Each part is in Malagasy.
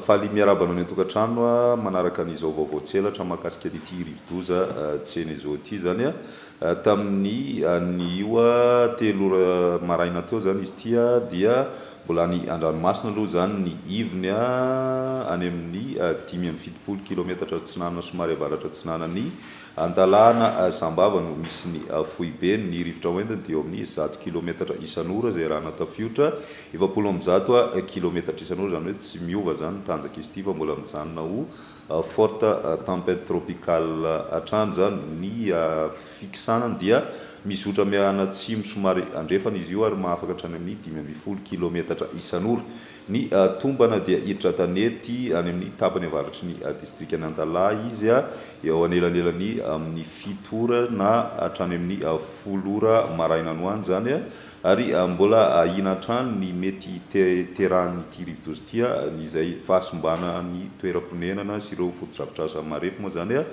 Faly miarahaba anao any an-tokantrano manaraka an'izao vaovao tsy elatra mahakasika an'ity rivodoza Tsenezo ity izany. Tamin'ny anio telo ora maraina teo izany izy ity dia Mbola any an-dranomasina aloha izany ny ivony, any amin'ny dimy amby fitopolo kilaometatra atsinanana somary avaratra atsinanan'i Antalana Sambava no misy ny foibeny. Ny rivotra hoentiny dia eo amin'ny zato kilaometatra isan'ora izay rano tafiotra, efapolo amby zato kilaometatra isan'ora, izany hoe tsy miova izany ny tanjaka izy ity fa mbola mijanona ho forte tempête tropicale hatrany izany ny Fiksanany dia mizotra mianatsimo somary andrefana izy io ary mahafaka hatrany amin'ny dimy ambin'ny folo kilaometatra isan'ora. Ny tombana dia hiditra tanety any amin'ny tapany avaratry ny distrikan'i Antalaha izy, eo anelanelan'ny amin'ny fito ora na hatrany amin'ny folo ora maraina any ho any izany, ary mbola ahiana hatrany ny mety hiterahan'ity rivodoza ity, izay fahasimbanan'ny toeram-ponenana sy ireo fotodrafitrasa marefo moa izany.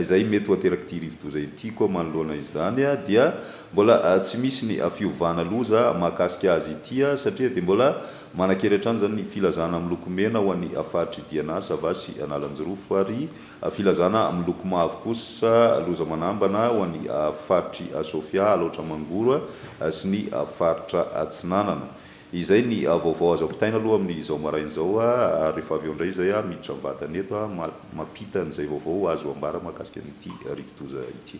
Izay mety ho aterak'ity rivodoza ity koa manoloana izany dia mbola tsy misy ny fiovana loza mahakasika azy ity satria dia mbola manan-kery hatrany izany ny filazana miloko mena ho an'ny faritr'i Diana, Sava sy Analanjirofo ary filazana miloko mavo kosa loza manambana ho an'ny faritr'i Sofia, Alaotra Mangoro sy ny faritra Atsinanana. Izay ny vaovao azo ampitaina aloha amin'izao maraina izao ary rehefa avy eo indray izay aho miditra am-batana eto mampita an'izay vaovao azo ambara mahakasika an'ity rivodoza ity.